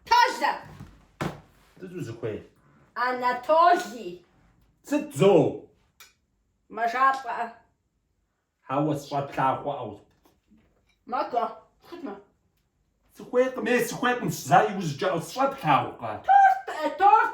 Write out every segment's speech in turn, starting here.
Толэ! Сыт узыхуей? Анатолий! Сыт зо? Мэжалӏэ. Хьэуэ, сщӏэ плъагъуӏэу. Мадо, сытмэ? Сыхуейкъым, е сыхуейкъым, зэ, иужькӏэ, сщӏэ плъагъукъэ? Торт, э, торт!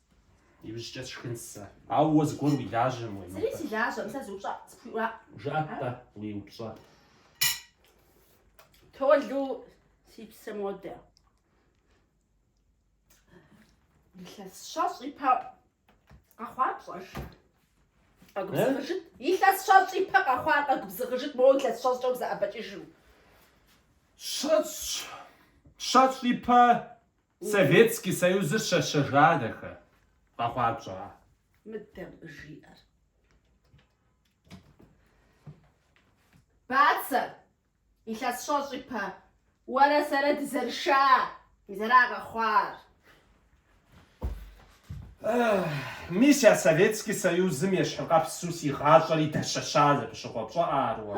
Иужькӏэ сшхын сэ. Ауэ уэ зыгуэр уи лажьэм уемыпӏэ. Зыри си лажьэӏым, сэ зы упщӏэ, сыпхуиӏуа? Жыӏэ-тӏэ, уи упщӏэ. Толэ, си псэ, модэ. Илъэс щэщӏ ипэ къэхъуар пщӏэж. Къэгубзыгъыжыт. Илъэс щэщӏ ипэ къэхъуар къэгубзыгъыжыт, моуэ илъэс щэщӏкӏэ узэӏэбэкӏыжым. Щэщӏ, щэщӏ ипэ Советский Союзыр щэщэжа дахэ, къэхъуар пщӏа? Мыдэм жиӏэр. Бацэ, илъэс щэщӏ ипэ, уэрэ сэрэ дызэрыша, мизэра къэхъуар? Мис я Советский Союзым ещхьыкъэпсу си гъащӏэри дэщэща зэпыщыкъуэ пщӏыӏэ ар уэ?